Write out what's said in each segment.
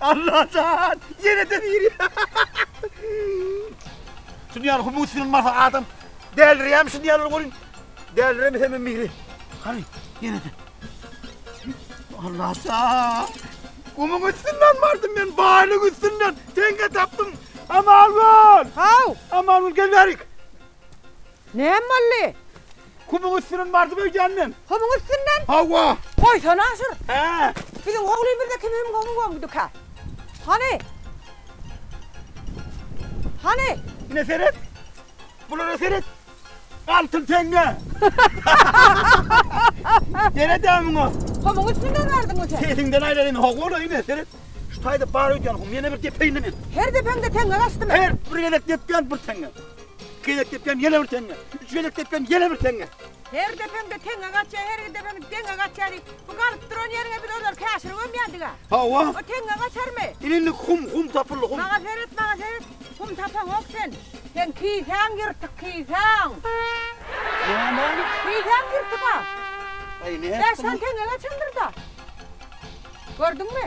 Allajan! Ýene-de biri! Şuny ýaly humus ýylmasa adam dälirýärmi şuny ýaly görüň. Däliremese hem biri. Hany, ýene-de. Allajan! Gumuň üstünden bardym men, baýlyk üstünden. Teňňe tapdym. Aman bol! Haw! Aman bol, gel bärik. Näme boldy? Kumuň üstünden bardyp öýdýän men. Kumuň üstünden? Hawa. Goýsana şur. Hä. Biziň oglymyzda kim hüm hum goňduka? Hany? Hany? Ine seret. Bulara seret. Altyn teňňe. Seret-ä muňa. Kumuň üstünden bardyňmy sen? Sesiňden aýlaýyn. Hawa-la ine seret. Şu taýda bar öýdýän hum. Ýene bir depeýinmi men? Her depeňde teňňe gaçdymy? Her bir gezek depýän bir teňňe. Iki gezek depýän ýene bir teňňe. Üç gezek depýän ýene bir teňňe. Her depeňde teňňe gaçýar, her iki depeňde deňňe gaçýar diýip, bu galyp duran ýeriňe biz olary käşir gömýändiga. Hawa. O teňňe gaçarmy? Ine indi hum, hum tapyldy, hum. Maňa seret, maňa seret. Hum tapaňok sen. Seň kisäň ýyrtyk, kisäň. Näme? Kisäň ýyrtyk-a. Aý, nätdim. Bäş sany teňňe gaçandyr-da. Gördüňmi?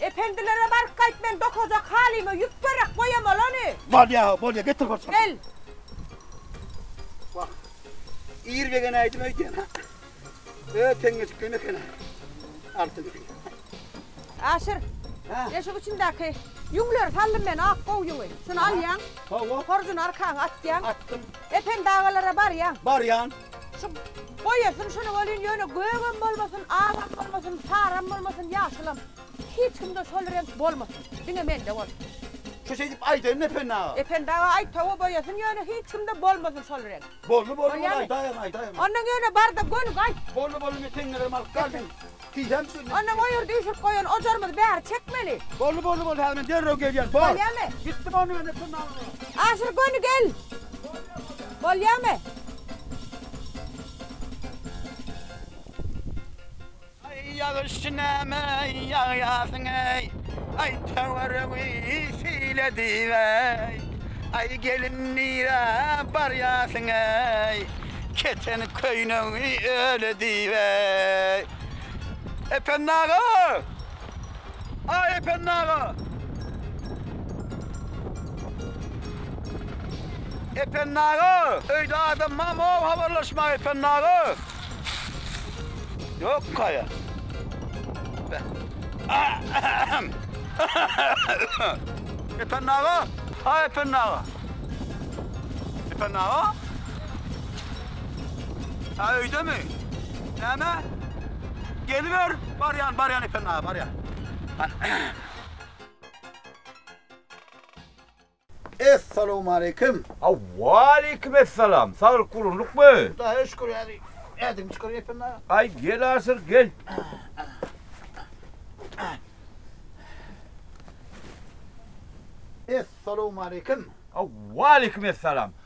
Ependilere baryp gaýt men dokajak halyma ýüp gerek goýam olany. Bolýa bolýa getir bir çorba. Gel. Wah. Ir begen aýdym aýdýan ha. Ö teňňeçik kene kene. Altyn. Aşyr. Ha. Eşik içindäki ýüňleri saldym men ak gowy ýüňi. Şuny alýaň. Hawa. Horjuny arkaňa atýaň. Atdym. Ependi agalara barýaň. Barýan. Şu boýasyn şuny welin ýöne gögem bolmasyn, agam bolmasyn, saram bolmasyn, ýaşylam. Hiç kimde şol reňk bolmasyn. Diňe mende bolsun. Şu şeýdip aýdaýyn Ependi aga. Ependi aga aýt hawa boýasyn ýöne hiç kimde bolmasyn şol reňk. Boldy boldy boldy aýdaýaň aýdaýaň. Ondan ýöne barda gönük aýt. Boldy boldy men teňňelerimi alyp galyň. Ondan o ýerde üýşürip goýan ojarymyzy bäri çekmeli. Boldy, boldy, boldy, häzir men derrew gelýän. Bor. Bolýamy? Gitdim onda mende çynlamaga. Aşyr göni gel. Bolýamy? Aý, ýagyş näme ýagýarsyň-eý. Aý, töweregi sil edip-eý. Aý, gelin nirä barýarsyň-eý. Keten köýnegiňi öle diýip eý. Ependi aga! Aý Ependi aga! Ependi aga! Öýde adam barmy ow habarlaşmaga Ependi aga? Ýokkaýa. Ependi aga! Aý Ependi aga! Ependi aga! Ä öýdemi? Näme? Geliber. Barýan, barýan Epen aga, barýan. Essalawmaleýkim. Waleýkim essalam. Saglyk gurunlykmy? Hudaýa şükür häzir. Ädim çykyr Epen aga. Aý gel asyr, gel. Essalawmaleýkim. Waleýkim essalam.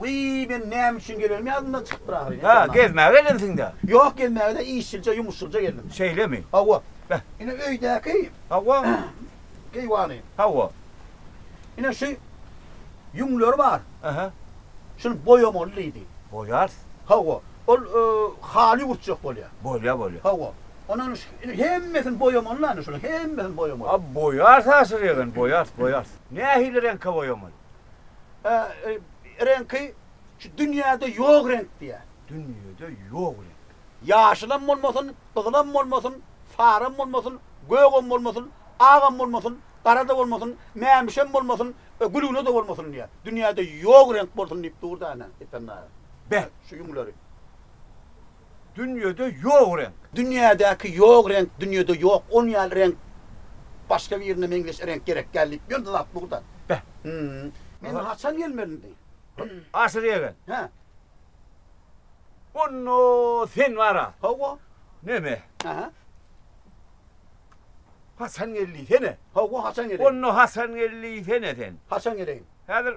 Wiý, men näme üçin gelenim ýadymdan çykypdyr ahyryn. Hä, gezmäge gelensiň-dä? Ýok, gezmäge däl, işçilje, ýumuşylja geldim. Şeýlemi? Hawa. Beh. Ine, öýdäki. Hawa. Keýwany. Hawa. Ine, şu ýüňleri bar. Ähä. Şuny boýamaly diýdi. Boýarys. Hawa. Ol haly ýuwurtjak bolýar. Bolýar, bolýar. Hawa. Ondan öň şu ine hemmesini boýamaly-la, ine şunuň hemmesini boýamaly. A, boýarys ahyryn, boýarys, boýarys. Nähili reňke boýamaly? reňki şu dünýäde ýok reňk diýýär. Dünýede ýok reňk. Ýaşylam bolmasyn, gyzylam bolmasyn, saram bolmasyn, gögem bolmasyn, agam bolmasyn, gara-da bolmasyn, mämişem bolmasyn, gülgüne-de bolmasyn diýýär. Dünýäde ýok reňk bolsun diýip dur-da ene, Epen daýy. Beh, şu ýüňleri. Dünýede ýok reňk. Dünýädäki ýok reňk dünýede ýok on ýaly reňk başga birine meňzeş reňk gerek däl diýip ýördi zat bugda. Beh. Hmm. Men haçan gelmeli indi? Aşyr ýegen. Hä. Onda sen bara. Hawa. Neme? Aha. Haçan geldiysene? Hawa haçan geleyim? Onda haçan geldiysene sen? Haçan geleýin? Häzir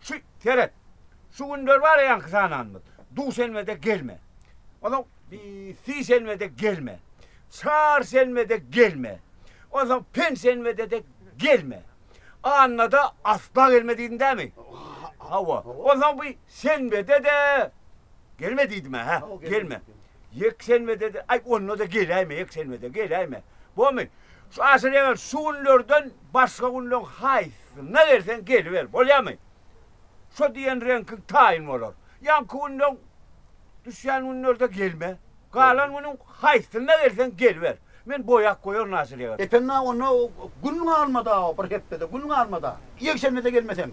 Şu, seret. Şu günler bar-a ýaňky sananymyz. Duşenbede gelme. Onsoň sişenbede gelme. Çarşenbede gelme. Onsoň penşenbede-de gelme. Annada asla gelme diýdiň dämi? Hawa. Onsoň bu şenbede-de gelme diýdim-ä, hä? Gelme. Ýekşenbede-de, aý, onda-da geläýme, ýekşenbede geläýme. Bolmy? Şu aşyrýan şu günlerden Başga günleň haýsysyna gelseň geliber, bolýarmy? Şo diýen reňkiň taýyn bolar. Ýaňky günleň düşýän günlerde gelme. Galan günüň haýsysyna gelseň geliber. Men boýap goýaryn Naçalýege. Ependi-a, onda gün galmady-a, bir hepdede gün galmady-a. Ýekşenbede gelmeseň,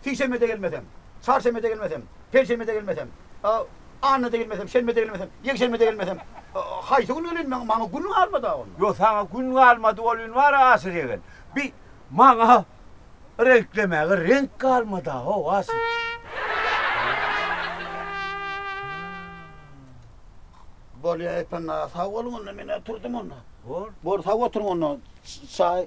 sişenbede gelmeseň, çarşenbede gelmeseň, Penşenbede gelmesem, annada gelmesem, şenbede gelmesem, ýekşenbede gelmesem, haýsy gün geleýin maňa? Maňa gün galmady-a ony. Ýok, saňa gün galmady, ol gün bar-a, Asyl ýegen. Bi, maňa reňklemäge reňk galmady-a-how, Asyl. Bolýa, Epen aga, sag boluň onda, men-ä turdum onda. Bol. Bol, sag oturyň onda. Çaý.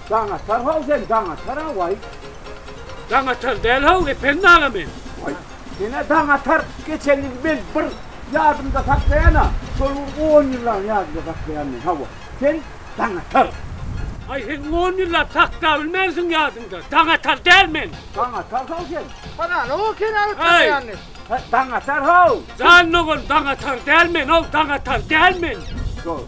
Daňatar how sen Daňatar a way. Daňatar däl how Ependi aga men. Way senä Daňatar geçen ýyl men bir ýadymda saklaýana şol bir on ýyllaň ýadymda saklaýan men hawa sen Daňatar. Aý sen on ýyllap saklabilmänsiň ýadyňda Daňatar däl men. Daňatar how sen. Hana how seni alyp tanaýanny. He Daňatar how. Jan dogan Daňatar däl men how Daňatar däl men. Dogry.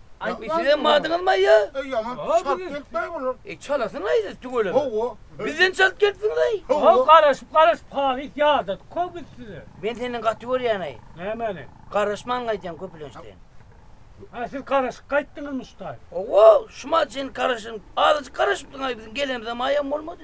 Aýt wagt. Sizem bardyňyzma ýa? Eý ýaman çalt gelipdir bular. Eý çalasynlaý siz tüweleme. Hawa. Bizden çalt gelipsiňizaý. Hawa garaşyp garaşyp halyt ýadadyk ko biz size. Men senden gaty görýänaý. Nämeni? Garaşman gaýtýaň köpülençden. Ha siz garaşyp gaýtdyňyzmyşdaý. Hawa şuma çen garaşyň. Azajyk garaşypdyňaý biziň gelenimize maýam bolmady.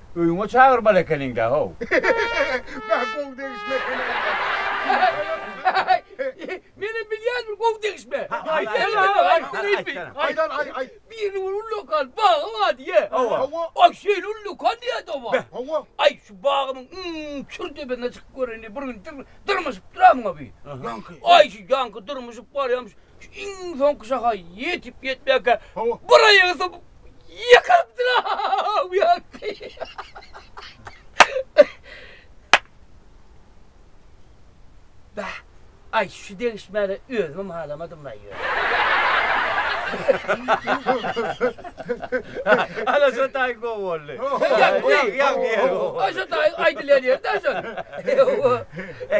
Öýüňe çagyrmaly ekeniňdä-how. Bä gowy degişme ekeni. Menem bilýän bir gowy degişme. Aýdan aý aý. Biriniň bir ullakan bagy bar diýýä. Hawa. Aý şeýle ullakan diýýä-de oňa. Hawa. Aý şu bagymyň iň çür depesine çykyp göreýin diýip bir gün dyrmyşyp duramyň-a bi. Ýaňky. Aý şu ýaňky dyrmyşyp barýamyş. Iň soňky şaha ýetip-ýetmänkä bir aýagy sypyp ýykylypdyr-a! Aý, şu degişmäni özümem halamadym-laý ýöne. Ana şo taýy gowy boldy. Ýa, ýa, ýa, ýa. Aý, şo taýy aýdylýan ýeri-dä şol. Ýa-a.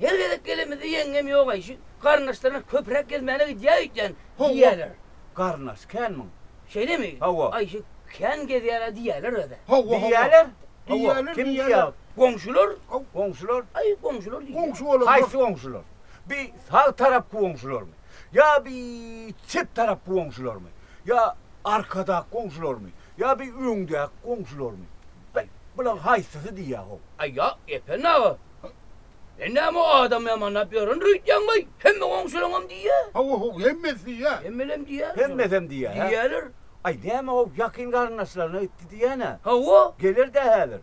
Her gezek gelenimizde ýeňňem ýogaý, şu garyndaşlaryna köpräk gezmäne gidýäý öýtýän diýýäler. Garyndaş känmiň? Şeýlemi? Hawa. Aý, şu kän gezýär-ä diýýäler özä. Hawa, diýýäler. Diýýäler, kim diýýär? Goňşular. Goňşular? Aý, goňşular diýýär. Goňşy bolanlar. Haýsy goňşular? Bi sag tarapky goňşularmy? Ýa bi çep tarapky goňşularmy? Ýa arkadak goňşularmy? Ýa bi öňdäki goňşularmy? Bulaň haýsysy diýýär-how? Aý, ýa, Ependi aga, Sen näme adam ýamanlap ýören rüýtýäň baý? Hemme goňşulaňam diýýä. Hawa haw hemmesi diýýä. Hemmelem diýýä. Hemmesem diýýä. Diýýäler. Aý näme haw ýakyn garyndaşlaryna gitdi diýýänä. Hawa. Gelerdä häzir.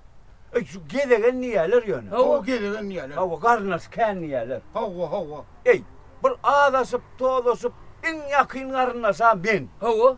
Aý şu gezegen diýýäler ýöne. Hawa gezegen diýýäler. Hawa garyndaş kän diýýäler. Hawa hawa. Eý bir azaşyp, tozlaşyp iň ýakyn garyndaşam men. Hawa.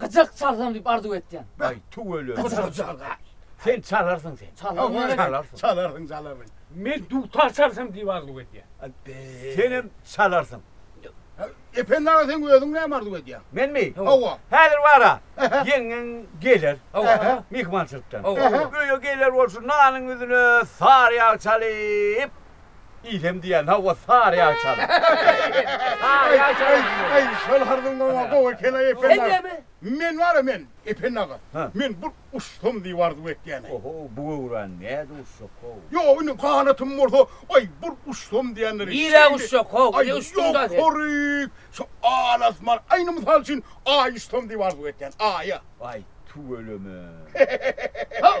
Gyjak çalsam diýip arzuw etýän. Aý tüweleme. Gyjak çalga. Sen çalarsyň sen. Çalarsyň. Aý çalarsyň. Çalarsyň çalarsyň. Men dutar çalsam diýip arzuw etýän. Abbe. Senem çalarsyň. Ependi aga sen özüň näme arzuw edýäň? Menmi? Hawa. Häzir bara. Ýeňňeň geler. Hawa. Myhmançylykdan. Hawa. Öýe geler bolsun nanyň ýüzüne sary ýag çalyp. Iýsem diýýän, hawa, sary ýag çalyp. Sary ýag çalyp. Äý, äý, şol harbyň goňa gowy eken-aý, Ependi aga. Sen näme? Men bar-a, men, Ependi aga, men bir uçsam diýip arzuw etýän-aý. Oho, bu göwräni nädip uçjak-how? Ýok, indi ganatym bolsa, aý, bir uçsam diýendir. Nirä uçjak-how? Ine, uçduň-da sen. Ýokaryk, şu al-asman, aý, indi mysal üçin, Aýa uçsam diýip arzuw etýän, Aýa. Aý, tüweleme. Haw!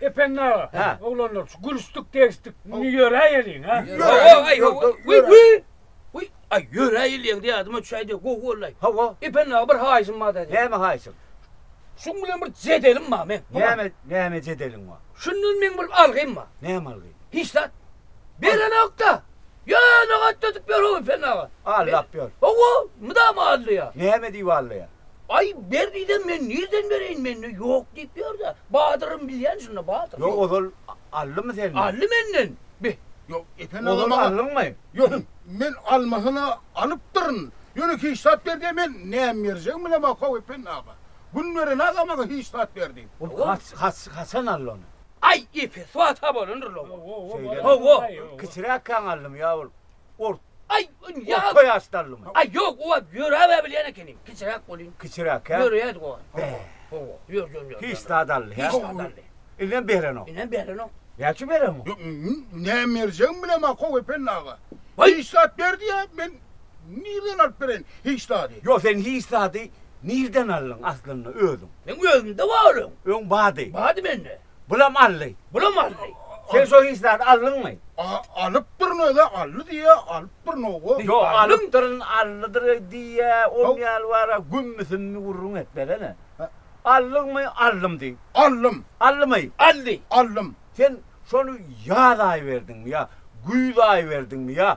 Ependi aga, Hä. oglanlar, şu gülüşdik, degişdik, indi ýöräýeliň, a? Ýöräýeliň, Aý, ýör, ýör, ýör, ýör, ýör. Wiý, aý, ýöräýeliň diýýädim-ä, çaýda gowy boldy-aý. Hawa. Ependi aga, bir haýyşym bar daýza. Näme haýyşyň? Şuň bilen bir jedelim bar meň. Näme, näme jedeliň bar? Şundan meň bir algym bar. Näme algy? Hiç zat. Berenok-da. Ýöne gatnadyp ýör-ow Ependi aga. Aldap ýör. Hawa, mydama aldaýar. Näme diýip aldaýar? Aý, ber diýsem, men nirden bereýin, mende ýok diýip ýör-dä. Badyrym bilýän şunda, badyr. Ýok, ozal aldymy senden? Aldy menden. Be, ýok, Epen aga maňa. Ozal aldyňmy? Ýok, men almasyna alypdyryn. Ýöne hiç zat ber diýen, men näme berjegimi bilemok, how, Epen aga. Gün beren aga maňa hiç zat ber diýip. Ol haç, haç, haçan aldy ony? Aý, epe, swat-a bolandyr-la ol. Şeýdemi? Hawa. Kiçiräkkäň aldymy ýa ol? ort Aý, ýa. Orta ýaşdalymy? Aý, ýok, oba ýöräbe bilýän ekeniň. Kiçiräk bolýyn. Kiçiräkä? Ýöreýärdik oba. Bäh. Hawa, ýör, ýör, ýör. Hiç zat aldy, hä? Hiç zat aldy. Indem berenok. Indem berenok. Näçe berenok? Ýok, näme berjegimi bilemok, how Ependi aga. Waý! Hiç zat ber diýýä, men nirden alyp bereýin hiç zady? Ýok, sen hiç zady nirden aldyň aslynda özüň? Meň özümde bar öň. Öň bardy. Bardy mende. Bulam aldy. Bulam aldy. Sen şo hiç zat aldyňmy? Alypdyryn özä aldy diýýä, alypdyryn-ow-o. Ýok, alypdyryn, aldydyr diýýä, on ýaly bar-a, gümmüsümmi gürrüň etmesene. Aldyňmy? Aldym diý. Aldym. Aldymy? Aldy. Aldym. Sen şony ýaz aýy berdiňmi ýa güýz aýy berdiňmi ýa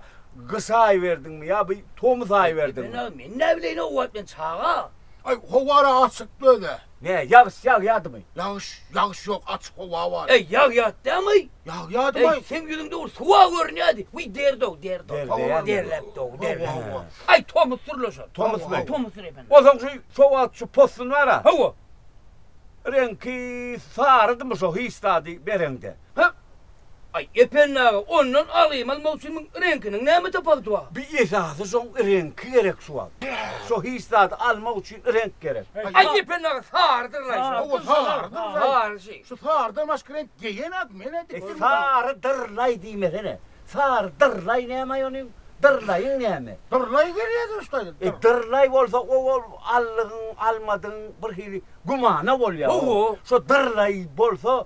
gyş aýy berdiňmi ýa bu tomus aýy berdiňmi? Bilmän-ä, men näbileýin-ow, o wagt men çaga. Aý, howar-a açykdy özä. Nä, ýagyş ýagýadymy? Ýagyş, ýagyş ýok, açyk howa bar. Äý, ýagýat dämi-aý? Ýagýadymy? Äý, seň ýüzüňde ol suwa görünýädi. Wiý, derdi-ow, derdi-ow. Derleýämi? Derläpdi-ow, derläpdi. Äý, tomus sürleşer. Tomusmy? Tomusdyr, ependi. Onsoň şu sowat, şu possun bar-a. Hawa. Reňki sarydymyş-ow hiç zady bereňde. Hä? Aý, Ependi aga, ondan alymal möwsümiň reňkiniň näme tapawudy bar? Bi esasy şoň reňki gerek şu wagt. Şo hiç zady almak üçin reňk gerek. Aý, Ependi aga, sarydyr-laý şo. Hawa, sarydyr-laý. Sary şeý. Şu sarydan başga reňk geýen adam men-ä dik durmam. Sarydyr-laý diýmesene. Sarydyr-laý näme-aý onuň? Dyr-laýyň näme? Dyr-laý gelýä durşy gaýdyp. E, dyr-laý bolsa o ol aldygyň, almadygyň birhili gümana bolýar. Hawa. Şo dyr-laý bolsa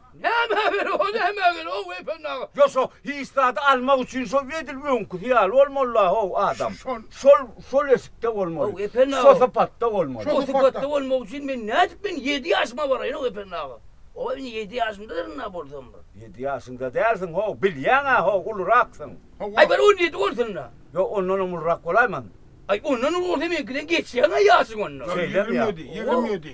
Näme bir o näme bir ow Efen aga. Ýok şo hiç zady almak üçin şo edil öňküsi ýaly bolmaly-la ow adam. Şol şol şol eşikde bolmaly. Ow Efen aga. Şo sypatda bolmaly. Şo sypatda bolmak üçin men nädip men ýedi ýaşyma baraýyn ow Efen aga. Ow indi ýedi ýaşymdadyryn-a bolsam bir. Ýedi ýaşyňda dälsiň ow bilýäň-ä ow uluraksyň. Aý bir on ýedi bolsun-da. Ýok ondanam ulurak bolaýman. Aý ondan uly bolsa meňkiden geçýäň-ä ýaşyň onda. Ýigrimi ýedi ýigrimi ýedi.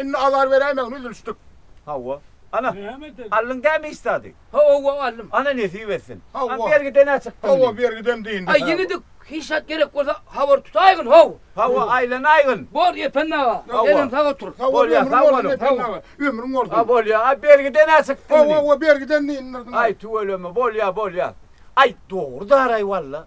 Indi azar beräýmäň, üzülişdik. Hawa. Ana, aldyň dämi iş zady? Hawa, aldym. Ana, nesip etsin. Hawa. A bergide nä çykdy indi? Hawa, bergidem diýindi. Aý, ýene-de hiç zat gerek bolsa, habar tutaýgyn, how! Hawa, aýlanaýgyn. Bor, Ependi aga. Hawa. Senem sag otur. Hawa, Bolýar, ömrüň sag bolsun, boluň. Ependi aga. Ömrüň bolsun. A bolýar. A bergide nä çykdy indi? Hawa, hawa, bergiden diýin, nyrdyň. Aý, tüweleme, bolýar, bolýar. Aý, dogry-daraý walla.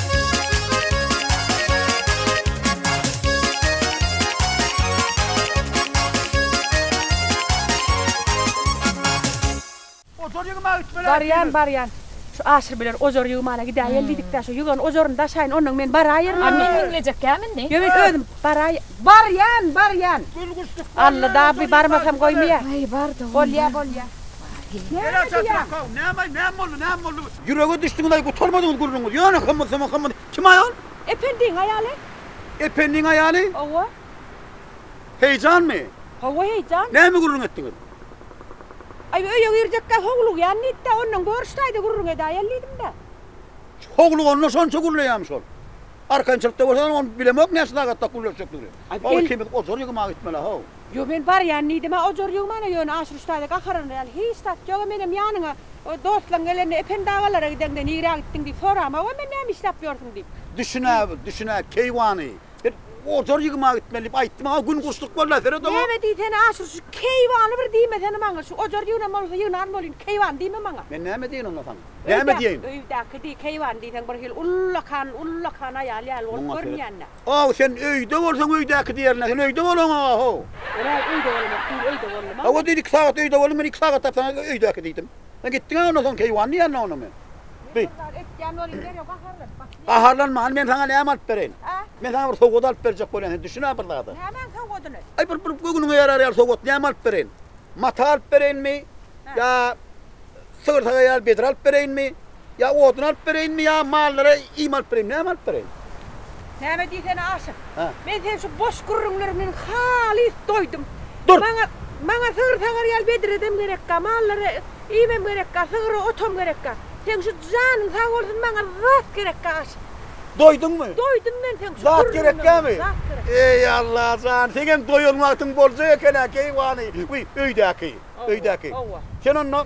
Barýan, barýan. Şu Aşyr bilen ojar ýygmana gidäýeli diýdik-dä, şu ýygan ojaryny daşaýyn, onnoň men baraýyryn. A men meňzejekkäm indi? Ýöne men özüm baraýyn. Barýan, barýan. Alla-da bi barmasam goýmaýar. Aý, bar-da onda. Bolýa, bolýa. Näme diýýäň? Näme, näme boldy, näme boldy? Ýürege düşdüňiz-aý, gutarmadyňyz gürrüňiz. Ýöne hymyr-symyr, hymyr. Kim aýal? Ependiň aýaly. Ependiň aýaly? Hawa. Heýjanmy? Hawa, heýjan. Näme gürrüň etdiňiz? Aý, öýe girjekkä howlugýan diýdi-de, ondan görüşdäý-de gürrüň edäýeli diýdim-de. Howluganda şonça gürleýärmi şol? Arkançylykda bolsa, ony bilemok näçe sagatda gürleşjekdigini. Ol ikimiz ojar ýygmaga gitmeli-ä-how. Ýo men barýan diýdimä ojar ýo mana ýöne Aşyryş daýza gaharanyna ýaly hiç zat ýoga menem ýanyňa dostlaň gelende Ependi agalara gideňde nirä gitdiň diýip soramaga men näme işläp ýörsüň diýip. Düşünä düşünä keýwany men ojar ýygyma gitmeli diýip aýtdy maňa gün guşluk bolýa seret oňa. Näme diýsene Aşyr şu keýwany bir diýmesene maňa şu ojar ýygnan bolsa ýygnan bolýyn keýwany diýme maňa. Men näme diýen onda saňa näme diýeýin. Öýdäki diý keýwany diýseň bir hil ullakan ullakan aýal ýaly bolup görünýänä. Aw sen öýde bolsaň öýdäki diýerine sen öýde bolaňa how. Ora öýde bolanok diýil öýde boldum a. Aw diýdi iki sagat öýde boldum men iki sagat da saňa öýdäki diýdim. Sen gitdiňä ondan soň keýwan diýenine ona men. Bir zat etýän bolyň derrew gaharlanyp başlaýaň. Gaharlanma hany men saňa näme alyp bereýin. A? Men saňa bir sowgat alyp berjek bolýan sen düşün-ä bir zada. Nämäň sowgadyny? Aý bir bir göwnüňe ýarar ýaly sowgat näme alyp bereýin. Mata alyp bereýinmi? Ýa sygyr sagaýan bedre alyp bereýinmi? Ýa odun alyp bereýinmi, ýa mallara iým alyp bereýinmi, näme alyp bereýin? Näme diýsene Aşyr. Hä. Men seniň şu boş gürrüňleriňden halys doýdum. Dur! Maňa, maňa sygyr sagar ýaly bedredem gerekka, mallara iýmem gerekka, sygyra otam gerekka. Seň şu janyň sag bolsun, maňa zat gerekka Aşyr. Doýduňmy? Doýdum men seň şu Zat gürrüňiňden. gerekkämi? Zat gerek. Eý, Alla jan, seňem doýan wagtyň boljak eken-ä, keýwany. Wiý, öýdäki, öýdäki. Howwa. Sen onda.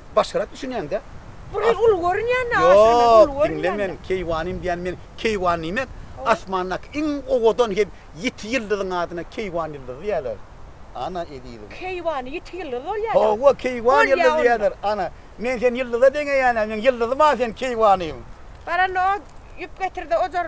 başgarak düşünýäňdä. Bu gyz uly görünýänmi aşyr men uly görünýänmi. Ýok diňle men keýwanym diýýän men keýwan diýmek asmandaky iň owadan hem ýiti ýyldyzyň adyna keýwan ýyldyzy diýýärler ana ezizim. Keýwan ýiti ýyldyzy bolýa. Hawa keýwan ýyldyzy diýýärler ana men seni ýyldyza deňeýänä men ýyldyzym a sen keýwanym. Baranda o ýüp getirde ojar.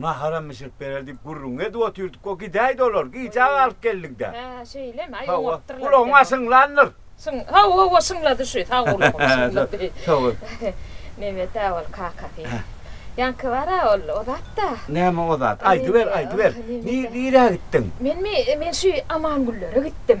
Naharam bişirip berer diýip gürrüňi edip otyrdyk o gidäýdi olar gijä galyp geldiňdä. Hä şeýlemi aý oňapdyrlar. Hawa gulagyňa şyňlandyr. Şyň hawa hawa şyňlady şu sag gulagym şyňlady. Hawa. Nebet-ä ol kakasy. Ýaňky bar-a ol o zatda. Näme o zat aýdyber aýdyber. Nirä gitdiň? Menmi men şu Amangüllere gitdim.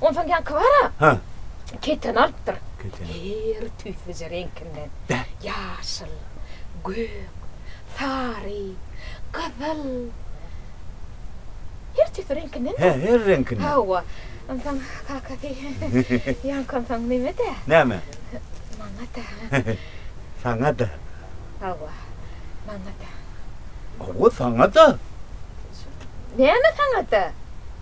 Onsoň ýaňky bar-a? Hä. Keteni alypdyr. Keteni. Her tüýsüje reňkinden. Bä. Ýaşyl, gök, sary, gyzyl. Her tüýsi reňkinden. Hä, her reňkinden. Hawa. Onsoň kakasy ýaňky onsoň neme-dä? Näme? Maňa-da. Saňa-da. Hawa. Maňa-da. Hawa, saňa-da. Näme saňa-da?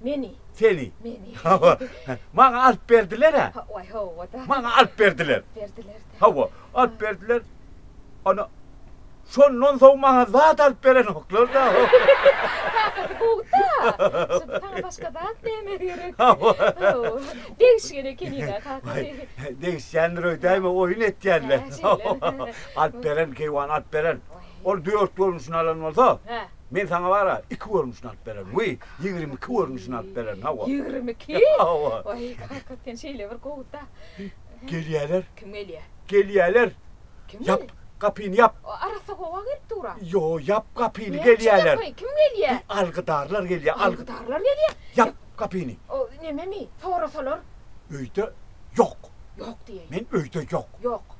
Meni. Seni. Meni. Hawa. Maňa alyp berdiler-ä. Hawa, hawa-da. Maňa alyp berdiler. Berdiler-de. Hawa, alyp berdiler. Ana, şondan soň maňa zat alyp berenoklar-da. Kakasy gowy-da. Şonda saňa başga zat näme gerek? Hawa. Hawa. Degişgen ekeni-da kakasy. Degişýändir öýdäýme, oýun etýänler. Alyp beren, keýwany alyp beren. Ol dört görnüşini alan bolsa. Hä. Men saňa bar-a, iki görnüşini alyp bererin. Wiý, ýigrimi iki görnüşini alyp bererin, hawa. Ýigrimi iki? Hawa. Waý, kaka, sen şeýle bir gowuda. Gelýäler. Kim gelýär? Gelýäler. Kim gelýär? Ýap, gapyny ýap. Arassa howa gelip dur-a. Ýo, ýap gapyny, gelýäler. Kim gelýär? Algydarlar gelýär. Algydarlar gelýär? Ýap gapyny. O, nememi? Sorasalar? Öýde ýok. Ýok diýeýin. Men öýde ýok. Ýok.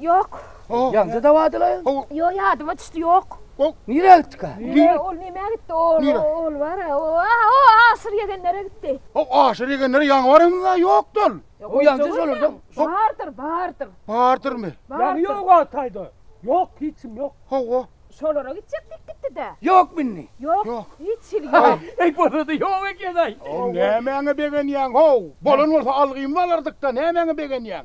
Ýok. Ýaňja dawadylaýyň? Ýok, ýadyma düşdi, ýok. Nirä gitdika? Ol nämä gitdi? Ol, ol bar-a, aşyr ýegenlere gitdi. Ol aşyr ýegenlere ýaňy baranymyz-a ýokdy ol. Ol ýaňja şolardan. Bardyr, bardyr. Bardyrmy? Ýaňy ýog-a taýda. Ýok, hiç kim ýok. Hawa. Şolara gitjek diýip gitdi-dä. Ýokmy indi? Ýok. Hiç hili ýok. Eý, bolady, ýok eken-aý. Nämäňe begenýäň, how? Bolan bolsa algymyzy alardyk-da, nämäňe begenýäň?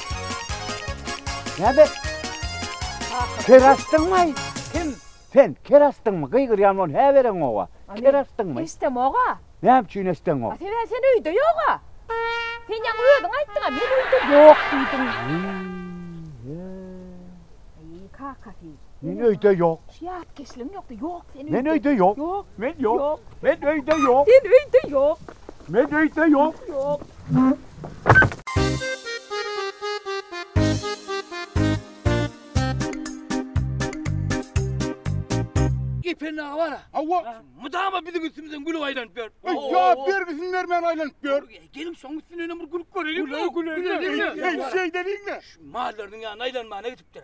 Näme? Ker açdyňmy? Kim? Sen ker açdyňmy? Gygyrýan bol, hä bereň owa. Ker açdyňmy? Eşdem oga. Näme üçin eşdeň oga? Sebäbi sen öýde ýoga. Sen ýa özüň aýtdyňa, men öýde ýok diýdim. Eý, kaka sen. Men öýde ýok. Şu ýatkeşligiň ýokdy. Ýok sen öýde. Men öýde ýok. Ýok. Men ýok. Men öýde ýok. Sen öýde ýok. Men öýde ýok. Ýok. Gepen aga bara. Hawa. Mydama biziň üstümizden gülüp aýlanyp ýör. Jogap bergisini bermän aýlanyp ýör. Geliň şoň üstünden hem bir gülüp görelim. Güleli güleli. Eý şeýdeliň-le. Şu mallarynyň ýanyna aýlanmana gidipdir.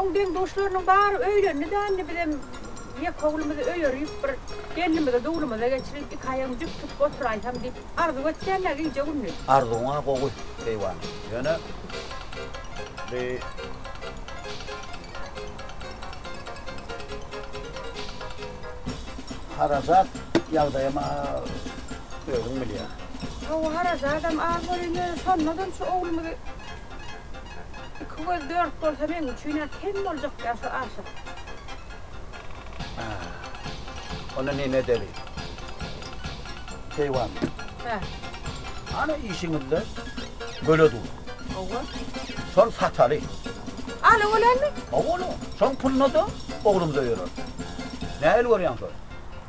Oň deň-duşlarynyň bary öýlendi-dändi, bizem ýeke oglumyzy öýerip, bir gelnimizi duglumyza geçirip, iki aýagyny jüp tutup oturaýsam diýip, arzuw etýän-ä gije-gündiz. Arzuwyň-a gowy, Keýwan. Ýöne, bi, harajat ýagdaýam, a, özüň bilýäň. Hawa, harajadam az bolar, ýöne şonda-da şu oglumyzy. Iki göz dört bolsa meň üçin-ä kem boljakda şu aşyk. Haa. Onda neme edeli? Keýwan. Hä. Ana işiňizde göle dur. Hawa. Şony sataly. Ala bolarmy? Hawa ola. Şoň puluna-da oglumyz öýerer. Nähili görýäň şony?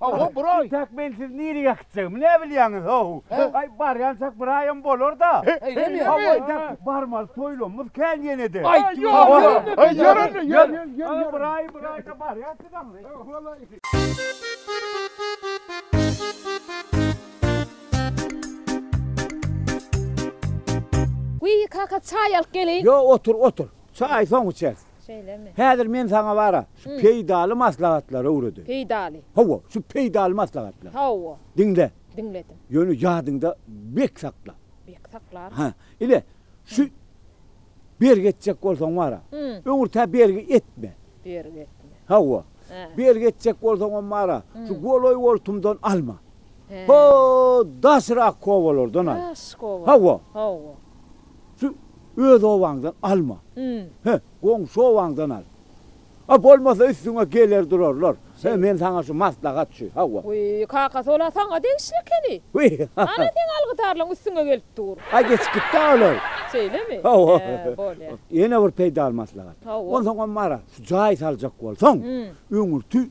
Hawa, bir aý. Intäk men sizi nirege gitjegimi näbilýäňiz, ho-ow? Aý, barýançak bir aýam bolar-da. Eýnemi? Hawa, intäk barmaly toýlamymyz kän ýene-de. Aýt, ýör, ýör indi, ýör. Ýör, bir aý, bir aýda barýas siz aňry. Wiý, kaka, çaý alyp geleýin. Ýok, otur, otur. Çaýy soň içeris. Şeýlemi? Häzir men saňa bara şu peýdaly maslahatlary öwredeýin. Peýdaly. Hawa, şu peýdaly maslahatlary. Hawa. Diňle. Diňledim. Ýöne ýadyňda bek sakla. Bek saklaryn. Hä, ile, şu bergi etjek bolsaň bara, öňürtä bergi etme. Bergi etme. Hawa. Bergi etjek bolsaňam bara, şu golaý-goltumdan alma. Hä. Ho, daşrak obalardan al. Daşrak obalardan. Hawa. Hawa. Şu öz obaňdan alma. Hä, goňşy obaňdan al. A bolmasa üstüňe geler durarlar. Hä, men saňa şu maslahat şu, hawa. Wiý, kakasy ol-a saňa degişli ekeni. Wiý. Ana seň algydarlaň üstüňe gelip dur. A geçip gitdi-ä olar. Şeýlemi? Hawa. Hä, bolýa. Ýene bir peýdaly maslahat. Hawa. Onsoňam Maral, şu jaý saljak bolsaň, öňürti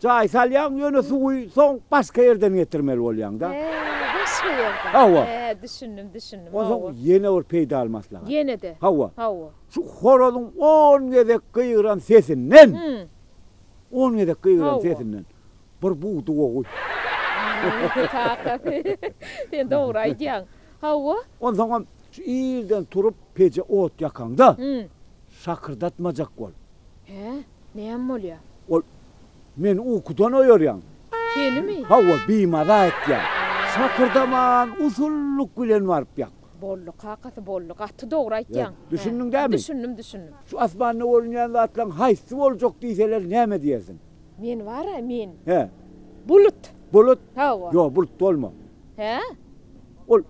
Jaý salýaň ýöne suwy soň başga ýerden getirmeli bolýaňda. He, başga ýerden. Hawa. He, düşündim, düşündim. Hawa. Onsoň ýene bir peýdaly maslahat. Ýene-de. Hawa. Hawa. Şu horazyň on gezek gygyran sesinden, on gezek gygyran sesinden bir bug duwa guý. Kaka, sen dogry aýdýaň. Hawa. Onsoňam şu irden turup peje ot ýakaňda, şakyrdatmajak bol. He. Näme bolýar? Ol, Meni ukudan oýarýaň. Senimi? Hawa, bimaza etýär. Şakyrdaman, usullyk bilen baryp ýak. Boldy, kakasy, boldy. Gaty dogry aýtýaň. Düşündiň dämi? Düşündim, düşündim. Şu asmanda görünýän zatlaryň haýsy boljak diýseler, näme diýersiň? Men bar-a, men. Hä? Bulut. Bulut? Hawa. Ýok, bulut bolma. Hä? Ol.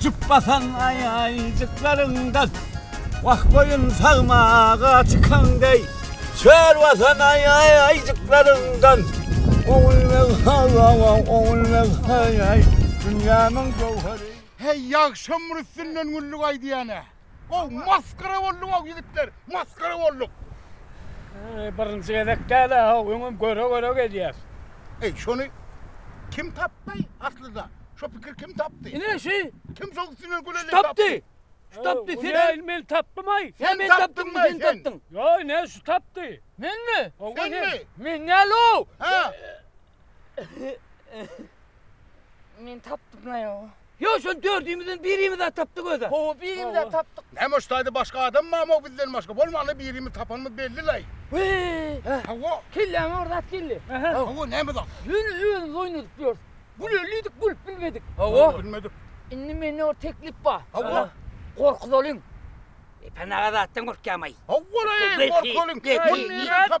Jüp basan aýajyklaryňdan. Wah goýun sagmaga çykan deý. Çöl basan aýajyklaryňdan. Ogul beg haý-haý-haý, ogul beg haý-haý, dünýämiň göwheri. Heý, ýagşam bir üstünden günlük aýdýan-a. Gowy masgara boldy gowy ýigitler masgara bolduk. Eý birinji gezek däl a how öňem göre göre gelýäs. Eý şony kim tapdy aslyda şo pikir kim tapdy. Ine şi. Kim şo üstüne güleli tapdy. Şu tapdy sen el. Ine men tapdymaý. Sen men tapdyňmy sen tapdyň. Ýo ine şu tapdy. Menmi. Senmi. Men däl how. He. Men tapdymlaý how. Ýo, şony dördümizden birimiz-ä tapdyk özä. Hawa, birimiz-ä tapdyk. Näme ştaýda başga adam barmy-ow bizden başga? Bolmanda birimiz tapanymyz belli-laý. Wee! Hawa. Kelläme bir zat geldi. Hawa, näme zat? Ýöne özümiz oýnadyp ýörüs. Gülelidik, gülüp bilmedik. Hawa. Bilmedik. Indi mende bir teklip bar. Hawa. Gorkuzalyň. Epen aga zatdan gorkýamaý. Hawa-laý, gorkuzalyň. Gorkuzalyň.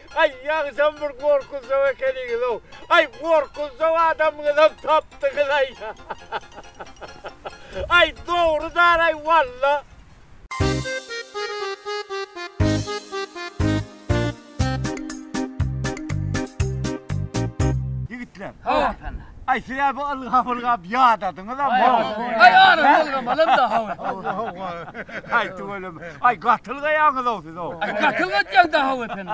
Aý, ýagyşam bir gorkuzjaw ekeniňiz-ow! Aý, gorkuzjaw adamyňyzam tapdyňyz-aý! Aý, dogrudan-aý, walla! Ýigitler! Hawa, Arslanda! Ay size bu ylgap ylgap ýadadyňyz am. Ay aryny ylgamalam da hawy. Ay tüweleme. Ay gatylgaýaňyz ow siz ow. Ay gatylgatýaň da hawy ependi.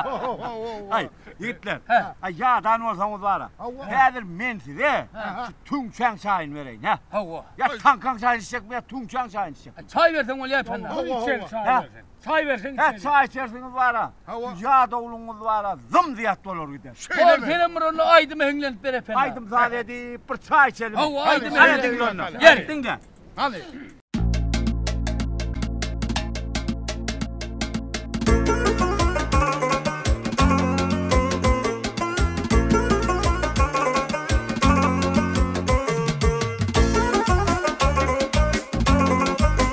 Ay ýigitler. Ay ýadan bolsaňyz bara. Häzir men size şu tüňçäň çaýyny bereýin hä. Hawa. Ýa taňkaň çaýyny içjekmi ýa tüňçäň çaýyny içjekmi. Çaý berseň bolýa ependi. Içjek çaý berseň. Çaý berseň içeris. Hä çaý içersiňiz bara. Hawa. Ýadawlygyňyz bara zym zyýat bolar gider. Hol senem bir onda aýdymy heňlenip ber epen. Aýdym saz edip bir çaý içelim. Hawa aýdym heňle. Hany diňle onda. Ýer diňle. Hany.